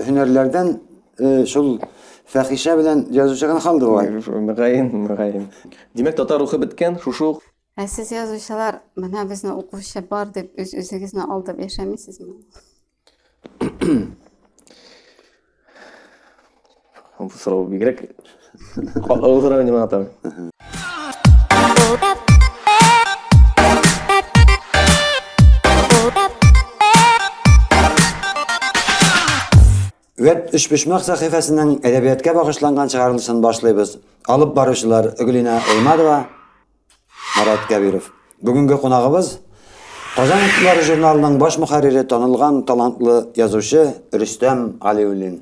Һөнәрләрдән шул фәхишә белән язучы гына калды бугай. Мөгаен, мөгаен. Димәк, татар рухы беткән, шушы ук. Ә сез язучылар, менә безне укучы бар дип, үз-үзегезне алдап яшәмисезме? Бу сорау бигрәк катлаулы сорау инде моңа тагын. Веб өчпочмак сәхифәсенең әдәбиятка багышланган чыгарылышын башлыйбыз. Алып баручылар Гөлинә Эймадова, Марат Кәбиров. Бүгенге кунагыбыз Казан итлары журналының баш мөхәррире танылган талантлы язучы Рөстәм Галиуллин.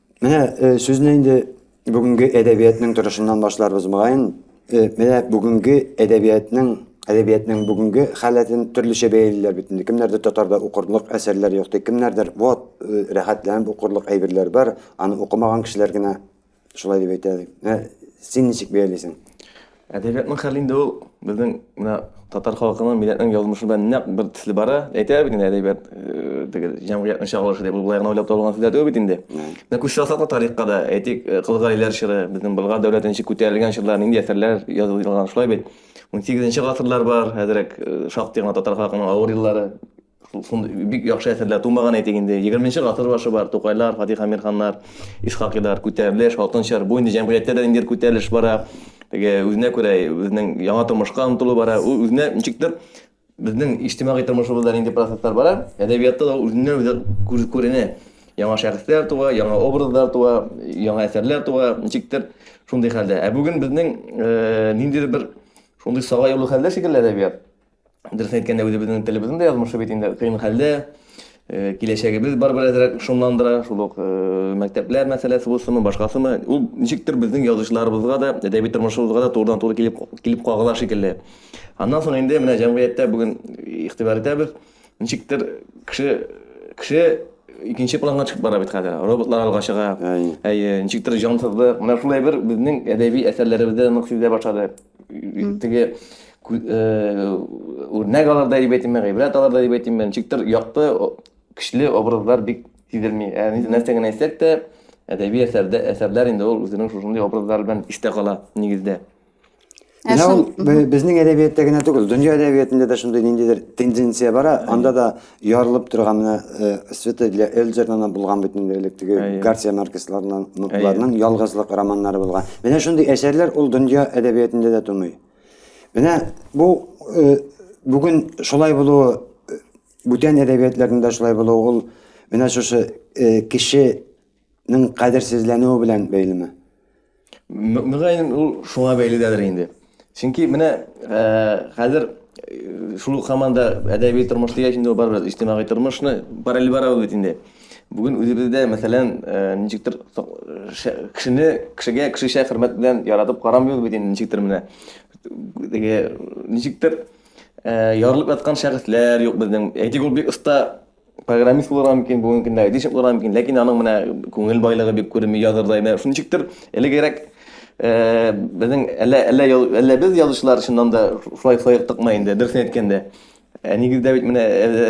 Менә э, сүзне инде бүгенге әдәбиятның торышыннан башларбыз мөгаен. Э, менә бүгенге әдәбиятның әдәбиятның бүгенге халәтен төрлечә бәялиләр бит инде. Кемнәрдер татарда укырлык әсәрләр юк ди, кемнәрдер вот э, рәхәтләнеп укырлык әйберләр бар, аны укымаган кешеләр генә шулай дип әйтә. Син ничек бәялисең? Әдәбиятның хәле инде ул безнең менә татар халкының, милләтнең язмышы белән нәкъ бер төсле бара. Әйтәләр бит инде әдәбият э, теге җәмгыятьнең чагылышы дип, ул болай гына уйлап табылган сүзләр түгел бит инде. Менә күз салсак та тарихка да, әйтик, э, Кыл Галиләр чоры, безнең Болгар дәүләте ничек күтәрелгән чорлар, нинди әсәрләр язылган, шулай бит. 18 нче гасырлар бар, хәзерәк э, шактый гына татар халкының авыр еллары Шундый бик яхшы әсәрләр тумаган әйтик инде. 20 нче гасыр башы бар, Тукайлар, Фатих Амирханнар, Исхакилар, күтәрелеш, хатын-чар, бу инде җәмгыятьтә дә ниндидер күтәрелеш бара. Теге үзенә күрә үзенең яңа тормышка омтылу бара. Ул үзенә ничектер безнең иҗтимагый тормышыбызда нинди процесслар бара, әдәбиятта да үзеннән үзе күренә. Яңа шәхесләр туа, яңа образлар туа, яңа әсәрләр туа, ничектер шундый хәлдә. Ә бүген безнең ниндидер бер шундый сага юлы хәлдә шикелле әдәбият. Дөресен әйткәндә, үзебезнең телебезнең дә язмышы бит инде кыен хәлдә. Э, киләчәгебез бар бер әзрәк шомландыра, шул ук э, мәктәпләр мәсьәләсе булсынмы, башкасымы. Ул ничектер безнең язучыларыбызга да, әдәби тормышыбызга да турыдан туры килеп килеп кагыла шикелле. Аннан соң инде менә җәмгыятьтә бүген игътибар итәбез. Ничектер кеше кеше икенче планга чыгып бара бит хәзер. Роботлар алга чыга. Әйе, ничектер җансызлык. Менә шулай бер безнең әдәби әсәрләребездә нык сизелә башлады. теге үрнәк алырда дип әйтим мен гыйбрәт алырда дип әйтим мен ничектер якты көчле образлар бик сизелми ә нәрсә генә әйтсәк тә әдәби әсәрдә әсәрләр инде ул үзенең шушындый образлар белән истә кала нигездә Менә ул безнең әдәбиятта генә түгел, дөнья әдәбиятында да шундый ниндидер тенденция бара, анда да Ярылып торган менә Света для Эльзердан да булган бит инде элек теге Гарсия Маркесларның нукларның ялгызлык романнары булган. Менә шундый әсәрләр ул дөнья әдәбиятында да тумый. Менә бу бүген шулай булуы бүтән әдәбиятларында шулай булуы ул менә шушы кеше Ның кадерсезләнүе белән бәйлеме? Мөгаен ул шуңа бәйледәдер инде. Чөнки менә хәзер шул ук хаманда әдәби тормыш дигәч инде ул барыбер иҗтимагый тормышны параллель бара бит инде. Бүген үзебездә, мәсәлән, ничектер кешене кешегә кешечә хөрмәт белән яратып карамыйбыз бит инде ничектер менә. Теге ничектер ярылып яткан шәхесләр юк безнең. Әйтик ул бик оста программист булырга мөмкин, бүгенге көндә айтишник булырга мөмкин, ләкин аның менә күңел байлыгы бик күренми язырдай. Менә шуның ничектер элегрәк э, безнең әллә әллә әллә без язучылар чыннан да шулай шулай тыкма инде, дөресен әйткәндә. Ә нигездә бит менә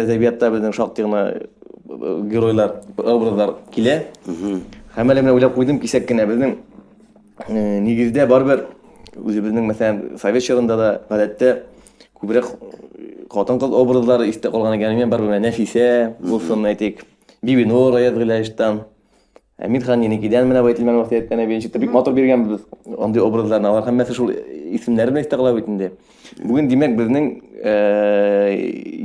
әдәбиятта безнең шактый гына э, геройлар, образлар килә. Һәм әле менә уйлап куйдым кисәк кенә безнең Нигездә барыбер үзебезнең мәсәлән совет чорында да гадәттә күбрәк хатын-кыз образлары истә калган икән. Мин бар менә Нәфисә булсын, әйтик, Бибинур Аязгыйләштан. Ә мин хан Еникидән менә Байтилмән васыяттән әби ничек бик матур биргән без андый образларны. Алар һәммәсе шул исемнәре белән истә кала бит инде. Бүген димәк безнең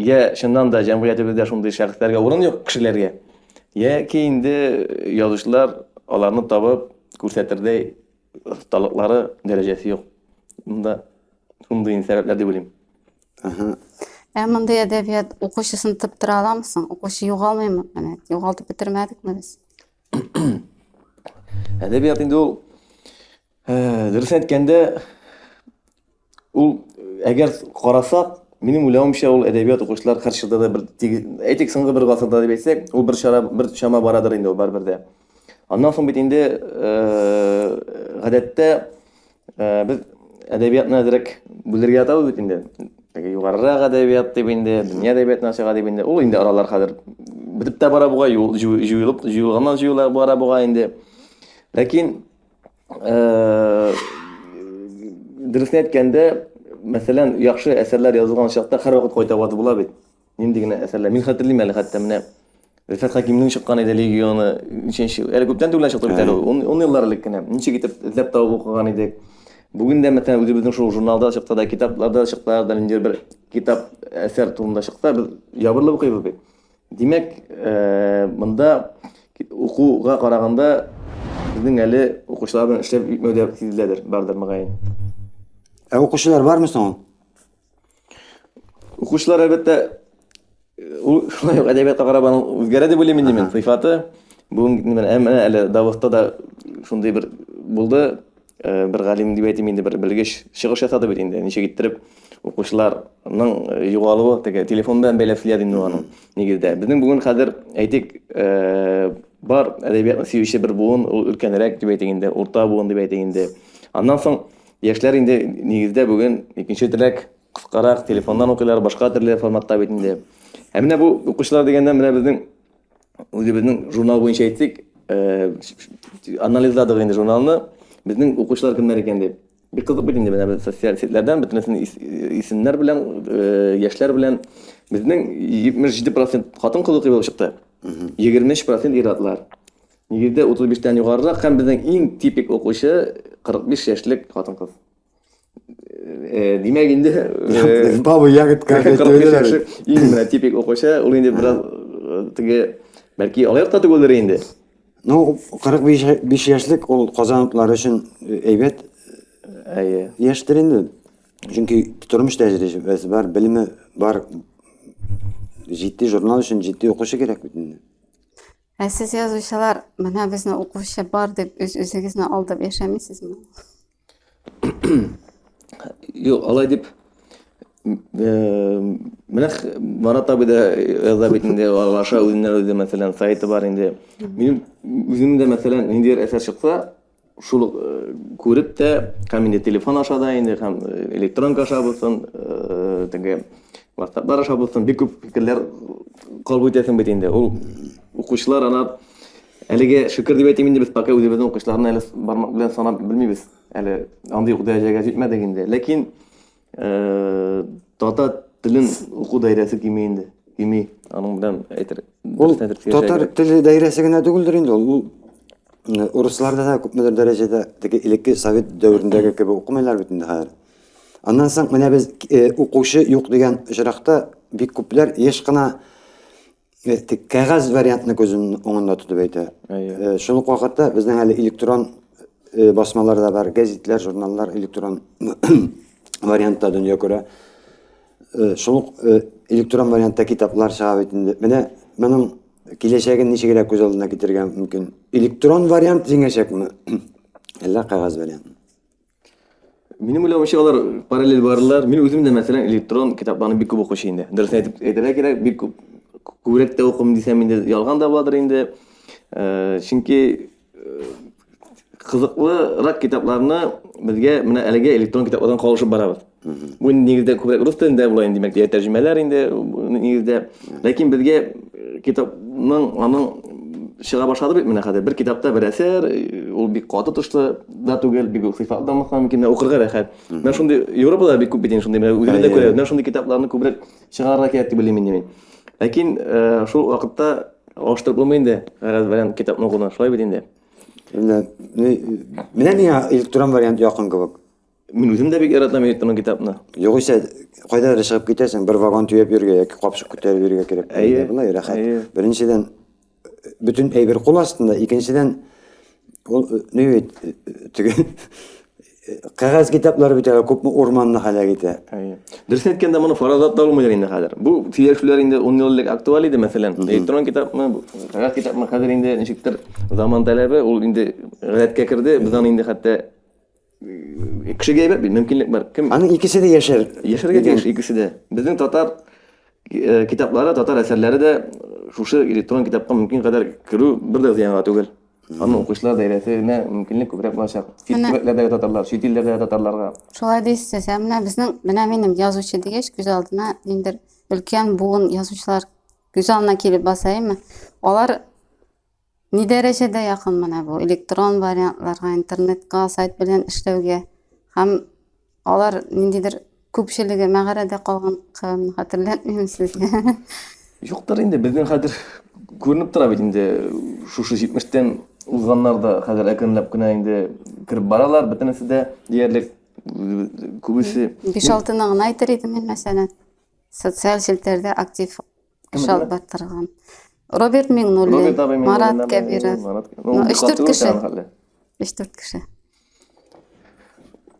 я чыннан да җәмгыятебездә шундый шәхесләргә урын юк кешеләргә. Яки инде язучылар аларны табып күрсәтердәй осталыклары дәрәҗәсе юк. Монда шундый сәбәпләр дип уйлыйм. Ага. Ә мондый әдәбият укучысын тыптыра аламы соң? Укучы югалмыймы? Менә югалтып бетермәдекме без? Әдәбият инде ул э, дөрес әйткәндә, Ул әгәр карасак, минем уйлавымча ул әдәбият укучылар һәр чорда да бер әйтик соңгы бер гасырда дип әйтсәк, ул бер чара бер чама барадыр инде ул барыбер дә. Аннан соң бит инде гадәттә без әдәбиятны әзрәк бүлергә ятабыз бит инде. Теге югарырак әдәбият дип инде, дөнья әдәбиятына чыга дип инде. Ул инде аралар хәзер бетеп тә бара буга, җуелып, җуелганнан җуела бара буга инде. Ләкин дөресен әйткәндә, мәсәлән, яхшы әсәрләр язылган чакта һәрвакыт кайта вакыт була бит. Нинди генә әсәрләр. Мин хәтерлим әле хәтта менә Рифат Хакимнең чыккан иде легионы, ничәнче, әле күптән түгел чыкты бит әле, 10 еллар элек кенә. Ничек итеп эзләп табып укыган идек. Бүген дә мәсәлән үзебезнең шул журналда чыкты да, китапларда чыкты да, нинди бер китап әсәр турында чыкса, без ябырылып укыйбыз бит. Димәк, монда укуга караганда безнең әле укучылар белән эшләп бетмәү дә сизеләдер, бардыр мөгаен. Ә укучылар бармы соң ул? Укучылар, әлбәттә, ул шулай ук әдәбиятка карап аның үзгәрә дип уйлыйм инде мин, сыйфаты. Бүген менә әле Давыдта да шундый бер булды, Э, бер галим дип әйтим инде бер белгеч чыгыш ясады бит инде ничек иттереп укучыларның э, югалуы теге телефон белән бәйләп сөйләде инде аның нигездә безнең бүген хәзер әйтик э, бар әдәбиятны сөюче бер буын ул өлкәнрәк дип әйтик инде урта буын дип әйтик инде аннан соң яшьләр инде нигездә бүген икенче теләк кыскарак телефоннан укыйлар башка төрле форматта бит инде ә менә бу укучылар дигәндә менә безнең Үзебезнең журнал буенча әйтик, анализладык инде журналны, безнең укучылар кемнәр икән дип. Бик кызык бит инде менә без социаль сетьләрдән бөтенесен исемнәр белән, яшьләр белән. Безнең 77% хатын-кыз укый булып чыкты. 23% ир-атлар. Нигездә 35 тән югарырак һәм безнең иң типик укучы 45 яшьлек хатын-кыз. Э, димәк инде э, бабы ягыт иң менә типик укучы ул инде бераз э, теге бәлки алаяк та түгелдер инде ну кырык биш яшьлек ул казан утлары өчен әйбәт әйе яшьтер инде чөнки тормыш тәҗрибәсе бар белеме бар җитди журнал өчен җитди укучы кирәк бит инде ә сез язучылар менә безне укучы бар дип үз үзегезне алдап яшәмисезме Юк, алай дип менә Марат абый да яза бит инде Лаша үзеннән үзе мәсәлән сайты бар инде. Минем үзем дә мәсәлән ниндидер әсәр чыкса, шул күреп тә һәм инде телефон аша да инде һәм электронка аша булсын, теге WhatsApp-лар аша булсын, бик күп фикерләр кабул итәсең бит инде. Ул укучылар алар Әлеге, шөкер дип әйтим инде, без пока үзебезнең укучыларны әле бармак белән санап белмибез. Әле андый ук дәрәҗәгә җитмәдек инде. Ләкин татар телен уку даирәсе кими инде. Кими. Аның белән әйтер. Ул татар теле даирәсе генә түгелдер инде ул. Ул э, урысларда да күпмедер дәрәҗәдә теге элекке совет дәверендәге кебек укымыйлар бит инде хәзер. Аннан соң менә без э, укучы юк дигән очракта бик күпләр еш кына кәгазь вариантны күз уңында тотып әйтә. Э, шул ук вакытта безнең әле электрон э, басмалар да бар, гәзитләр, журналлар электрон вариантта дөнья күрә. Э, шул ук электрон вариантта китаплар чыга бит инде. Менә моның киләчәген ничегрәк күз алдына китерергә мөмкин? Электрон вариант җиңәчәкме? Әллә кәгазь вариантмы? Минем уйлавымча алар параллель барылар. Мин үзем дә мәсәлән электрон китапларны бик күп укучы инде. Дөрес әйтеп әйтергә кирәк, бик күп күбрәк тә укым дисәм инде ялган да буладыр инде. Э, чөнки э, кызыклырак китапларны безгә менә әлеге электрон китаплардан калышып барабыз. Бу нигездә күбрәк рус телендә була инде, димәк, тәрҗемәләр инде нигездә. Ләкин безгә китапның аның чыга башлады бит менә хәзер. Бер китапта бер әсәр, ул бик каты тышлы да түгел, бик үк сыйфатлы да мөмкин, мөмкин укырга рәхәт. Менә шундый Европада бик күп бит инде шундый, менә үзебез дә күрәбез. Менә шундый китапларны күбрәк чыгарырга кирәк дип уйлыйм инде мин. Ләкин шул вакытта алыштырып булмый инде, гарәз белән китапны укуны, шулай бит инде. Менә миңа электрон вариант якын кебек. Мин үзем дә бик яратам электронлы китапны. Югыйсә, кайда да чыгып китәсең, бер вагон төяп йөргә яки капчык күтәреп йөргә кирәк. Әйе, булай рәхәт. Беренчедән бөтен әйбер кул астында, икенчедән ул ни бит теге кәгазь китаплары бит әле күпме урманны һәлак итә. Әйе. Дөресен әйткәндә, моны фаразлап та булмыйдыр инде хәзер. Бу сөйләшүләр инде 10 ел элек актуаль иде, мәсәлән, электрон китапны, кәгазь китапны хәзер инде ничектер заман таләбе, ул инде гадәткә керде, без аны инде хәтта Кешегә әйбәт бит, мөмкинлек бар. Кем Аны икесе дә яшәр. Яшәргә тиеш икесе дә. Безнең татар э, китаплары, татар әсәрләре дә шушы электрон китапка мөмкин кадәр керү бер дә зыянга түгел. Аны укучылар даирәсенә мөмкинлек күбрәк булачак. Чит Менә. төбәкләрдәге татарлар, чит илләрдәге татарларга. Шулай дисез, ә менә безнең, менә минем язучы дигәч, күз алдына ниндер өлкән буын язучылар күз алдына килеп басаймы? Алар Ни дәрәҗәдә якын менә бу электрон вариантларга, интернетка, сайт белән эшләүгә һәм алар ниндидер күпчелеге мәгарәдә калган кылын хәтерләтмим сезгә. Юктыр инде, безнең хәзер күренеп тора бит инде шушы 70-тән узганнар да хәзер әкренләп кенә инде кереп баралар, бөтенесе дә диярлек күбесе. 5-6 ны гына әйтер идем мин мәсәлән. Социаль челтәрдә актив Кеше алып баттырган. Роберт Миңнуллин, Марат Кәбиров. Өч төрт кеше. Өч төрт кеше.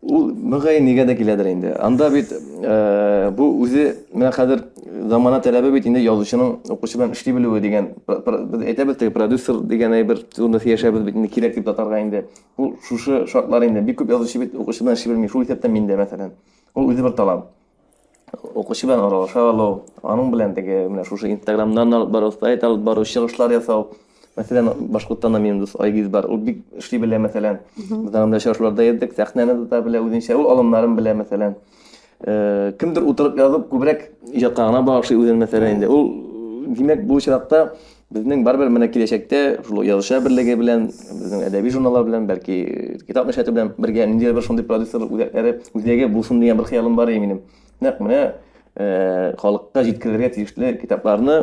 Ул мөгәй нигә дә киләдер инде. Анда бит э, бу үзе менә хәзер замана таләбе бит инде язучының укучы белән эшли белүе дигән без әйтәбез теге продюсер дигән әйбер турында сөйләшәбез бит инде кирәк дип татарга инде. Ул шушы шартлар инде бик күп язучы бит укучы белән эшли белми. Шул исәптән мин дә мәсәлән. Ул үзе бер талант. укучы белән аралаша алу, аның белән теге менә шушы инстаграмнан алып бару, сайт алып бару, чыгышлар ясау. Мәсәлән, Башкортстанда минем дус Айгиз бар, ул бик эшли белә, мәсәлән. Без анда очрашуларда йөрдек, сәхнәне тота белә үзенчә, ул алымнарын белә, мәсәлән. Э, кемдер утырып язып, күбрәк иҗатка гына багышлый үзен, мәсәлән, инде. Ул, димәк, бу очракта Безнең барыбер менә киләчәктә шул язучылар берлеге белән, безнең әдәби журналлар белән, бәлки китап нәшрияты белән бергә ниндидер бер шундый продюсерлык үзәкләре, үзәге булсын дигән бер хыялым бар иде минем. Нәкъ менә э, халыкка җиткерергә тиешле китапларны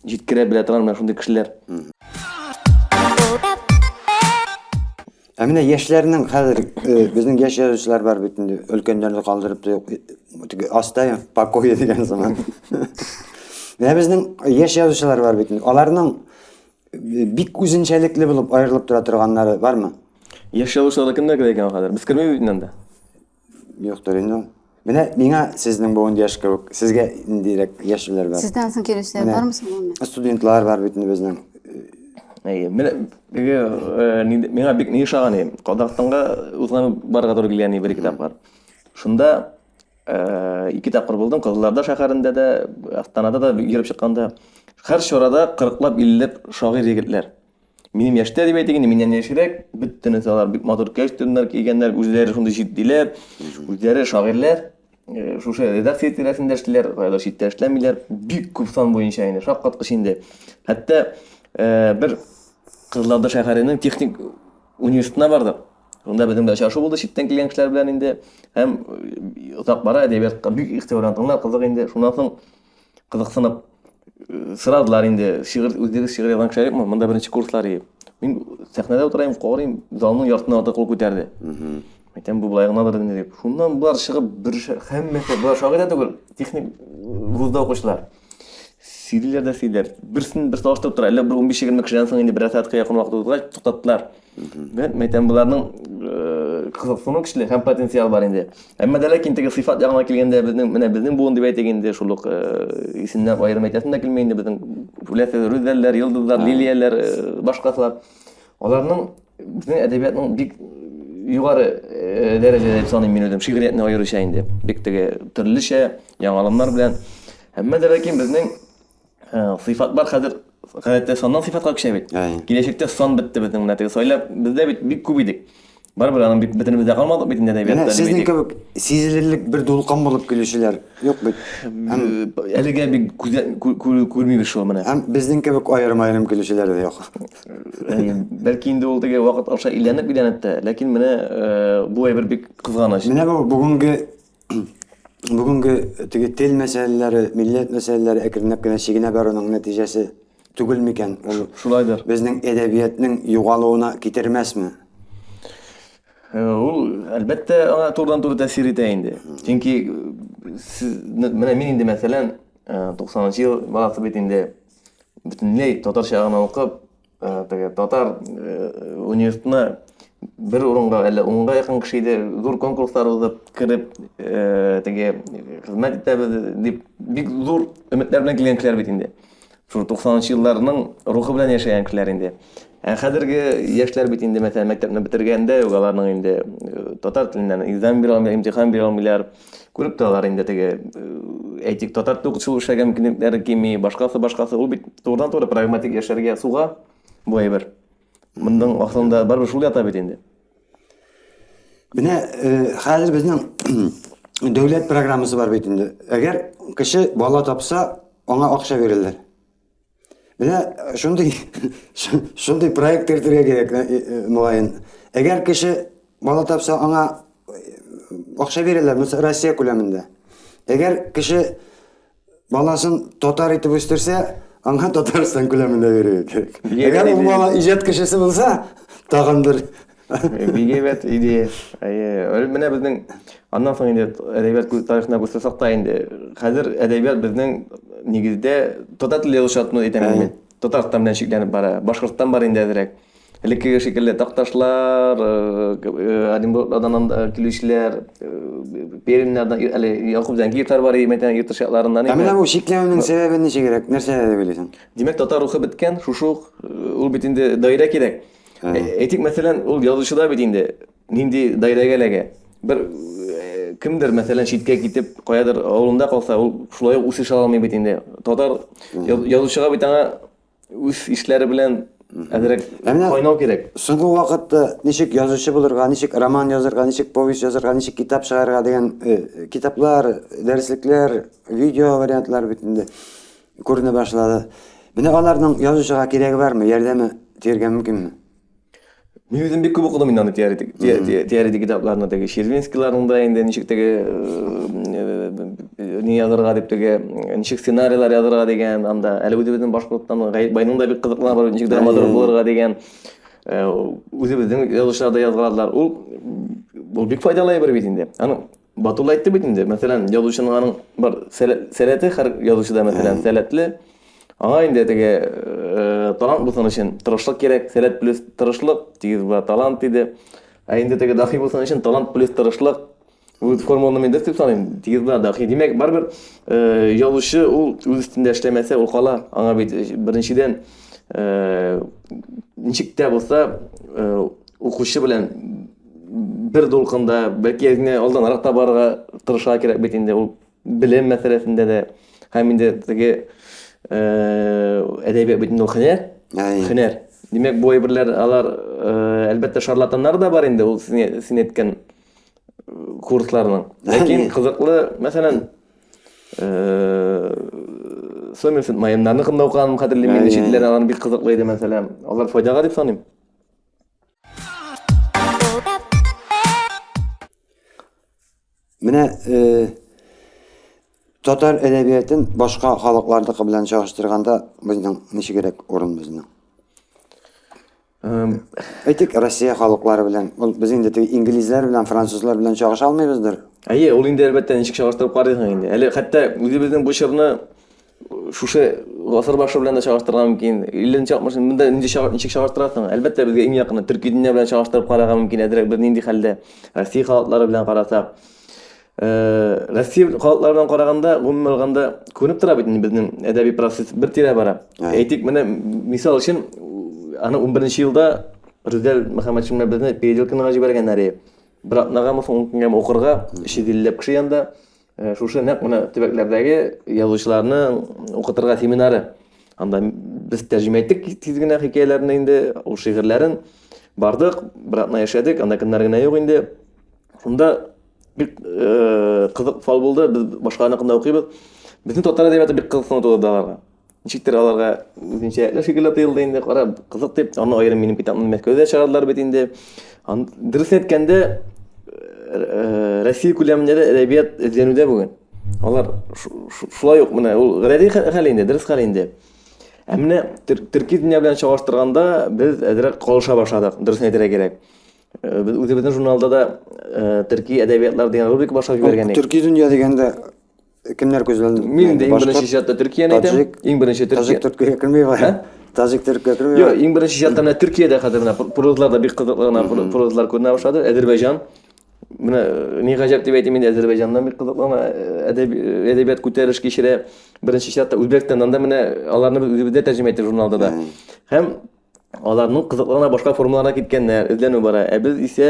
җиткерә белә торган менә шундый кешеләр. Ә менә яшьләрнең хәзер безнең яшь язучылар бар бит инде, өлкәннәрне калдырып та юк. Теге Астай покое дигән сыман. Менә безнең яшь язучылар бар бит инде. Аларның бик үзенчәлекле булып аерылып тора торганнары бармы? Яшь язучыларны кемнәр генә икән хәзер? Без кермибез бит инде анда. Юктыр инде. Менә миңа сезнең буын яшь кебек, сезгә ниндирәк яшьләр бар? Сездән соң килүчеләр Менә. бармы соң гомумән? Студентлар бар бит инде безнең. Әйе, менә теге э, нинди- миңа бик ни ошаган и, Казахстанга узган барырга туры килгән и, бер ике тапкыр. Шунда э, ике тапкыр булдым, Кызылорда шәһәрендә дә, Астанада да йөреп чыкканда. Һәр чарада 40-лап, 50-лап шагыйрь егетләр. Минем яшьтә дип әйтик, инде миннән яшьрәк, бөтенесе алар бик матур костюмнар кигәннәр, үзләре шундый җитдиләр, үзләре шагыйрьләр, э, шушы редакция тирәсендә эшлиләр, кайда читтә эшләмиләр, бик күп сан буенча инде, шаккаткыч инде. Хәтта э, бер Кызылорда шәһәренең техник университетына бардык. Шунда безнең белән очрашу булды читтән килгән кешеләр белән инде һәм э, озак бара әдәбиятка бик игътибарлы, тыңлар кызык инде. Шуннан соң кызыксынып э, сорадылар инде шигырь үзегез шигырь язган кеше юкмы монда беренче курслар и мин сәхнәдә утырайм карыйм залның яртысыннан артык кул күтәрде әйтәм бу былай гынадыр инде дип шуннан болар чыгып бер һәммәсе болар шагыйрь дә түгел техник вузда укучылар сөйлиләр дә сөйлиләр берсен берсе алыштырып тора әллә бер унбиш егерме кешедән соң инде бер сәгатькә якын вакыт узгач туктаттылар Димәк, мәйтәм боларның кызыксыну көчле һәм потенциал бар инде. Әмма дә ләкин теге сыйфат ягына килгәндә безнең менә безнең буын дип әйтик инде шул ук исемнәр аерым әйтәсем дә килми инде безнең үләсе рүзәлләр, йолдызлар, лилияләр, башкасылар. Аларның безнең әдәбиятның бик югары дәрәҗәдә дип саныйм мин үзем шигъриятне аеруча инде. Бик теге төрлечә, яңалымнар белән. Әмма дә ләкин безнең Ә, сыйфат бар хәзер гадәттә саннан сыйфатка күчә бит. Әй. Киләчәктә сан бетте безнең менә теге сайлап бездә бит бик күп идек. Барыбер аның бит бөтенебез дә калмадык бит инде Менә әдәбиятта сезнең димәйтик. кебек сизелерлек бер дулкын булып килүчеләр юк бит. Һәм, Э, Әлегә бик күзә- кү- кү- күрмибез шул менә. һәм безнең кебек аерым-аерым килүчеләр дә юк. Әй, Бәлки инде ул теге вакыт аша иләнеп иләнеп тә, ләкин менә э, бу әйбер бик кызганыч. Менә бу бүгенге бүгенге теге тел мәсьәләләре, милләт мәсьәләләре әкренләп кенә чигенә баруның нәтиҗәсе түгел микән? Ул шулайдыр. Безнең әдәбиятның югалуына китермәсме? Э, ул әлбәттә аңа турыдан туры тәэсир итә инде. Чөнки э, сез менә мин инде мәсәлән 90 э, нчы ел баласы бит инде бөтенләй татарча гына укып, Э, теге татар э, университетына бер урынга әллә унга якын кеше иде зур конкурслар узып кереп э, теге хезмәт итәбез дип бик зур өметләр белән килгән кешеләр бит инде шул туксанынчы елларның рухы белән яшәгән кешеләр инде ә хәзерге яшьләр бит инде мәсәлән мәктәпне бетергәндә үк аларның инде татар теленнән экзамен бирә алмыйлар имтихан бирә алмыйлар Күреп торалар инде теге, әйтик, татар токшоу эшләгән мөмкинлекләре кими, башкасы, башкасы. Ул бит турыдан-туры прагматик яшәргә суга бу әйбер. Моның ахырында барыбер шул ята бит инде. Менә хәзер безнең дәүләт программасы бар бит инде. Әгәр кеше бала тапса, аңа акча бирәләр. Менә э, шундый шундый проект кертергә кирәк, э, э, мөгаен. Әгәр кеше бала тапса, аңа акча бирәләр, мисал Россия күләмендә. Әгәр кеше баласын татар итеп үстерсә, аңа Татарстан күләмендә бирергә кирәк. Әгәр ул бала иҗат кешесе булса, тагын бер Бик әйбәт идея. Әйе, менә безнең аннан соң инде әдәбият тарихына күрсәтсәк тә инде, хәзер әдәбият безнең нигездә татар теле язучыларны әйтәмен мин. Татарстан белән чикләнеп бара. Башкортстан бар инде әзрәк. Элеккеге шикелле Такташлар, Оренбургдан килүчеләр, Пермьнәрдән, әле Якуб Зәнгиевләр бар, мәктәп ертышларыннан инде. Ә менә бу чикләнүнең сәбәбе ничегрәк? Нәрсә дип уйлыйсың? Димәк, татар рухы беткән, шушы ук ул бит инде даирә кирәк. Әйтик, мәсәлән, ул язучыда бит инде нинди даирәгә эләгә. Бер кемдер, мәсәлән, читкә китеп, каядыр авылында калса, ул шулай ук үсеш ала алмый бит инде. Татар язучыга бит аңа үз ишләре белән әзрәк кайнау кирәк. Соңгы вакытта ничек язучы булырга, ничек роман язырга, ничек повесть язырга, ничек китап чыгарырга дигән китаплар, дәреслекләр, видео вариантлар бит инде. Күренә башлады. Менә аларның язучыга кирәге бармы, ярдәме тиергә мөмкинме? Мин үзем бик күп укыдым инде аны теоретик китапларны теге Червинскийларның да инде ничек теге не язырга дип теге ничек сценарийлар язырга дигән анда әле үзебезнең башкорттан Гаеп байның да бик кызыклы бар ничек драматург булырга дигән үзебезнең язучылар да язган ул ул бик файдалы әйбер бит инде. Аның Батулла әйтте бит инде, мәсәлән, язучының аның бар сәләте һәр язучыда, мәсәлән, сәләтле. Аңа инде теге э, талант булсын өчен тырышлык кирәк, сәләт плюс тырышлык, тигез була талант диде. Ә инде теге дахи булсын өчен талант плюс тырышлык. Бу формуланы мин дөрес дип саныйм. Тигез була дахи. Димәк, барыбер э, язучы ул үз өстендә эшләмәсә, ул кала. Аңа бит э, беренчедән ничек тә булса укучы белән бер дулкында, бәлки генә алданрак та барырга тырышырга кирәк бит инде ул белем мәсьәләсендә дә һәм инде теге әдәбият бит инде ул һөнәр. Һөнәр. Димәк, бу әйберләр алар әлбәттә шарлатаннар да бар инде ул син әйткән курсларның. Ләкин кызыклы, мәсәлән, Сомерсет Майеннарны кында укыган хәтерлим, инде читләр алар бик кызыклы иде мәсәлән. Алар файдага дип саныйм. Менә э, татар әдәбиятын башка халыклардыкы белән чагыштырганда безнең ничегрәк урын безнең? Эм, Әйтик, Россия халыклары белән, ул без инде теге инглизләр белән, французлар белән чагыша алмыйбыздыр. Әйе, ул инде әлбәттә ничек чагыштырып карыйсың инде. Әле хәтта үзебезнең бу чорны Шушы гасыр башы белән дә чагыштырырга мөмкин. 50-нче 60 монда нинди чагы- ничек чагыштырасың? Әлбәттә, безгә иң якыны төрки дөнья белән чагыштырып карарга мөмкин. Әзрәк без нинди хәлдә? Россия халыклары белән карасак. Э, Россия халыклары белән караганда, гомумән алганда, күренеп тора бит инде безнең әдәби процесс бер тирә бара. Ага. Әйтик, менә м- мисал өчен, у- аны 11-нче елда Рүзәл Мөхәммәтшин белән безне переделкинга җибәргәннәр. и. Бер атнагамы, соң ун көнгәме укырга, 350 ләп кеше янда. Э, шушы нәкъ менә төбәкләрдәге язучыларны укытырга семинары анда без тәрҗемә иттек тиз генә хикәяләрне инде ул шигырьләрен бардык бер атна яшәдек анда кемнәр генә юк инде шунда бик э, кызык фал булды без башкаларныкында укыйбыз безнең татар әдәбияты бик кызыксыну тудырды аларга Ничектер аларга үзенчә рәтле фикерләр тыелды инде, кара, кызык дип, аны аерым минем китапны Мәскәүдә чыгардылар бит инде. Ан- Дөрес әйткәндә, э, Россия күләмендә дә әдәбият эзләнүдә бүген. Алар шу- шу- шулай ук менә ул гади хә- хәл инде, дөрес хәл инде. Ә менә төр- төрки дөнья белән чагыштырганда без әзрәк калыша башладык, дөресен әйтергә кирәк. Э, Без үзебезнең журналда да э, төрки әдәбиятлар дигән рубрика башлап җибәргән идек. Төрки дөнья дигәндә Кемнәр күзләнде? Мин инде иң беренче чиратта Төркияне әйтәм. Иң беренче Төркия. Таҗик Төркия килми бай. Таҗик Төркия килми. Юк, иң беренче чиратта менә Төркиядә хәзер менә прозлар да бик кызыклы гына прозлар күренә башлады. Әзербайҗан. Менә э, ни гаҗәп дип әйтим инде Әзербайҗаннан бик кызыклы гына э, э, әдәбият күтәреш кичерә. Беренче чиратта Үзбәкстаннан да менә аларны без үзебездә тәрҗемә иттек журналда да. Һәм Аларның кызыкларына башка формаларга киткәннәр, эзләнү бара. Ә без исә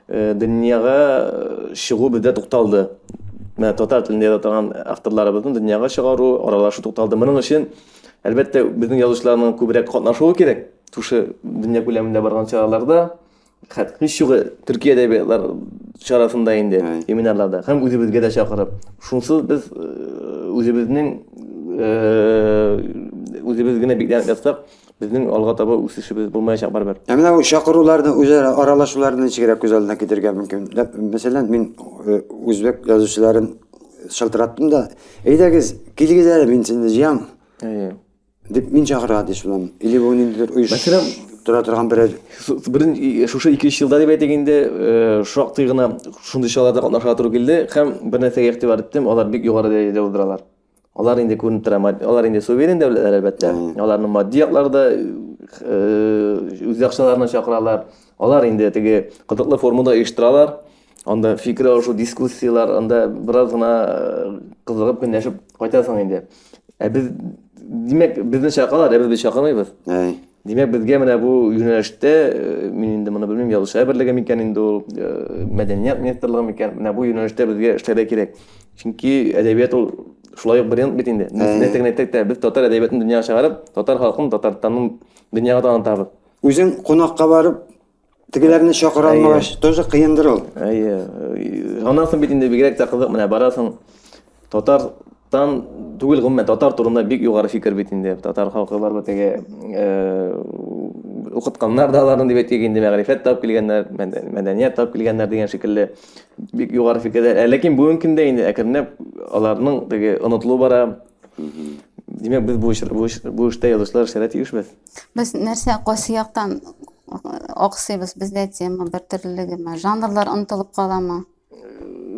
э, дөньяга э, чыгу бездә тукталды. Менә татар телендә яза торган авторларыбызны дөньяга чыгару, аралашу тукталды. Моның өчен, әлбәттә, безнең язучыларның күбрәк катнашуы кирәк. Шушы дөнья күләмендә барган чараларда, Хәт, ничугы төрки әдәбиятлар чарасында инде, семинарларда, һәм үзебезгә дә чакырып. Шунсыз без үзебезнең үзебез генә бикләнеп ятсак, безнең алга таба үсешебез булмаячак барыбер. Ә менә ул чакыруларны, үзара аралашуларны ничегрәк күз алдына китерергә мөмкин? Мәсәлән, мин үзбәк язучыларын шылтыраттым да, әйдәгез, килегез әле, мин сезне җыям. Дип мин чакыра ди шуннан. Или бу ниндидер оеш Мәсәлән, тора торган берәр Берен шушы 2-3 елда дип әйтик инде, шактый гына шундый чараларда катнашырга туры килде һәм бер нәрсәгә игътибар иттем, алар бик югары дәрәҗәдә уздыралар. Алар инде күренеп тора, алар инде суверен дәүләтләр, әлбәттә. Аларның матди яклары да үз яхшыларына чакыралар. Алар инде теге кызыклы формада оештыралар. Анда фикер алышу, дискуссияләр, анда бераз гына э, кызыгып көнләшеп кайтасың инде. Ә без, димәк, безне чакалар, ә без бит чакырмыйбыз. Әй. Димәк, безгә менә бу юнәлештә, э, мин инде моны белмим, язучылар берлеге микән инде ул, э, мәдәният министрлыгы микән, менә бу юнәлештә безгә эшләргә кирәк. Чөнки әдәбият ул шулай ук бренд бит инде. Әй. Нәрсә генә әйтсәк тә, без татар әдәбиятын дөньяга чыгарып, татар халкын, татарстанның дөньяга танытабыз. Үзең кунакка барып, Тегеләрне чакыра алмагач, тоже кыендыр ул. Әйе. Аннан бит инде бигрәк тә кызык, менә барасың. Татарстан түгел гомумән, татар турында бик югары фикер бит инде. Татар халкы бар бит теге э, укытканнар да аларны дип әйтик, инде мәгърифәт тап килгәннәр, мәдәният тап килгәннәр дигән шикелле бик югары фикерләр. Ә ләкин бүгенге көндә инде әкренләп аларның теге онытылу бара, Димәк, без бу эш- бу эш- бу эштә язучылар эшләргә тиешбез. Без нәрсә кайсы яктан аксыйбыз? Бездә тема бер төрлелегеме? Жанрлар онытылып каламы?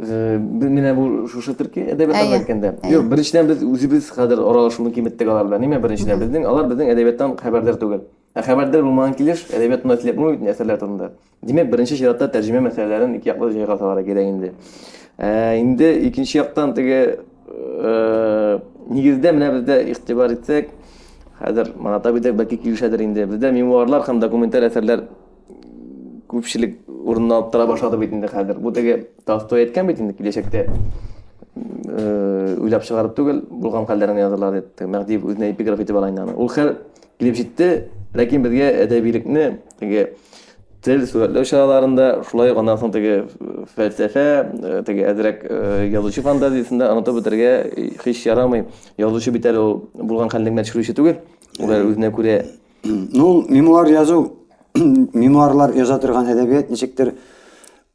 Э, Без менә бу шушы төрки әдәбият Әйе, алып әйткәндә. әйе. Юк, беренчедән без үзебез хәзер аралашуны киметтек алар белән. Нимә беренчедән? Безнең алар безнең әдәбияттан хәбәрдар түгел. Ә хәбәрдар булмаган килеш әдәбият турында сөйләп булмый бит, әсәрләр турында. Димәк, беренче чиратта тәрҗемә мәсьәләләрен ике яклы җайга салырга кирәк инде. Ә, инде икенче яктан теге э, нигездә менә бездә игътибар итсәк, хәзер Манатап идек, бәлки килешәдер инде. Бездә мемуарлар һәм документаль әсәрләр күпчелек урынны алып тора башлады бит инде хәзер. Бу теге Толстой әйткән бит инде киләчәктә э, уйлап чыгарып түгел, булган хәлләрен язырлар дип. Мәһдиев үзенә эпиграф итеп ала инде аны. Ул хәл Килеп җитте, ләкин безгә әдәбилекне теге тел сурәтләү чараларында, шулай ук аннан соң теге фәлсәфә, э, теге әзрәк э, язучы фантазиясендә онытып бетергә һич ярамый. Язучы бит әле ул булган хәлне генә төшерүче түгел. Ул әле үзенә күрә Ну, мемуар язу, мемуарлар яза торган әдәбият ничектер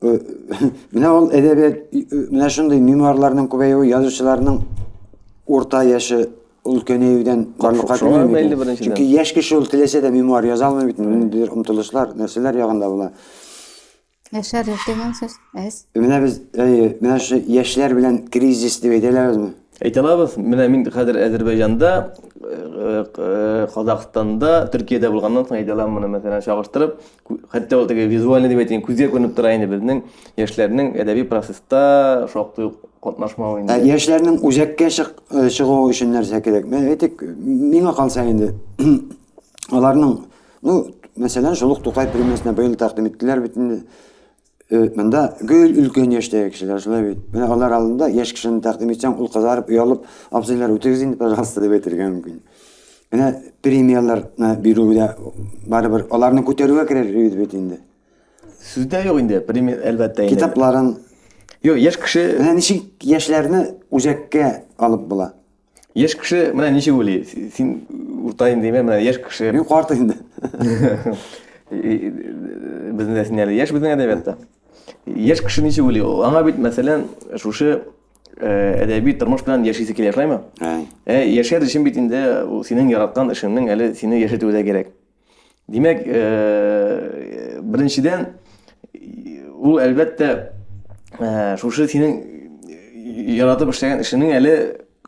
э, менә ул әдәбият э, менә шундый мемуарларның күбәюе язучыларның урта яше өлкәнәюдән барлыкка килми микән? Чөнки яшь кеше ул теләсә дә мемуар яза алмый бит, ниндидер омтылышлар, нәрсәләр ягында була. Яшәрлек дигән сүз әз. Менә без, әйе, менә шушы яшьләр белән кризис дип әйтә алабызмы? Әйтә алабыз. Менә мин хәзер Әзербайҗанда, Казахстанда, Төркиядә булганнан соң әйтә алам моны, мәсәлән, чагыштырып. хәтта ул теге визуальный дип әйтәйин күзгә күренеп тора инде безнең яшьләрнең әдәби процесста шактый ук катнашмавы инде ә яшьләрнең үзәккә чык, э, чыгуы өчен нәрсә кирәк әйтик миңа калса инде аларның ну мәсәлән шул ук тукай премиясенә быел тәкъдим иттеләр бит инде Э, монда гел өлкән яшьтәге кешеләр шулай бит. Менә алар алдында яшь кешене тәкъдим итсәң, ул кызарып, оялып, абзыйлар үтегез инде, пожалуйста, дип әйтергә мөмкин. Менә премияләрне бирүгә барыбер аларны күтәрүгә керер бит бит инде. Сүздә юк инде, премия әлбәттә инде. Китапларын. Юк, яшь кеше. Менә ничек яшьләрне үзәккә алып була. Яшь кеше менә ничек уйлый? Син урта индеме, менә яшь кеше. Мин карт инде. Безнең дә син әле яшь безнең әдәбиятта. Яшь кеше ничек уйлый? Аңа бит, мәсәлән, шушы э, әдәби тормыш белән яшисе килә, шулаймы? Ә яшәр өчен бит инде синең яраткан эшеңнең әле сине яшәтүе дә кирәк. Димәк, э, беренчедән, ул әлбәттә э, шушы синең яратып эшләгән эшеңнең әле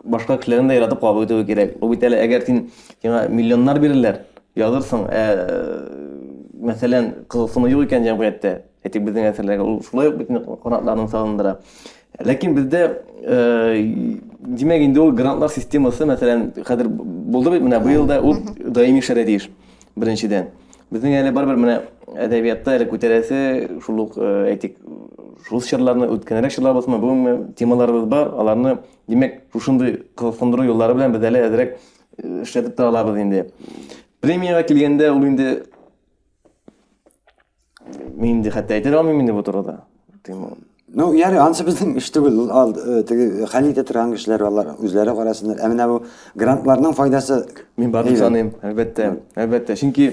башка кешеләрнең дә яратып кабул итүе кирәк. Ул бит әле әгәр син сиңа миллионнар бирерләр, язырсың, ә мәсәлән, кызыксыну юк икән җәмгыятьтә, Әйтик, безнең әсәрләргә ул шулай ук бөтен канатларын салындыра. Ләкин бездә, э, димәк, инде ул грантлар системасы, мәсәлән, хәзер булды бит менә быел да ул даими эшләргә тиеш. Беренчедән, безнең әле барыбер менә әдәбиятта әле күтәрәсе шул ук, э, әйтик, шул чорларны үткәнрәк чорлар булсынмы, бүгенге темаларыбыз бар, аларны, димәк, шушындый кызыксындыру юллары белән без әле әзрәк э, эшләтеп тә алабыз инде. Премиягә килгәндә, ул инде Мин инде хәтта әйтә дә алмыйм инде бу турыда. Ну, яре, ансы безнең эш түгел, ул ал, э, теге хәл итә торган кешеләр алар үзләре карасыннар. Ә менә бу грантларның файдасы Мин барын әйбәт. саныйм, әлбәттә, әлбәттә. Чөнки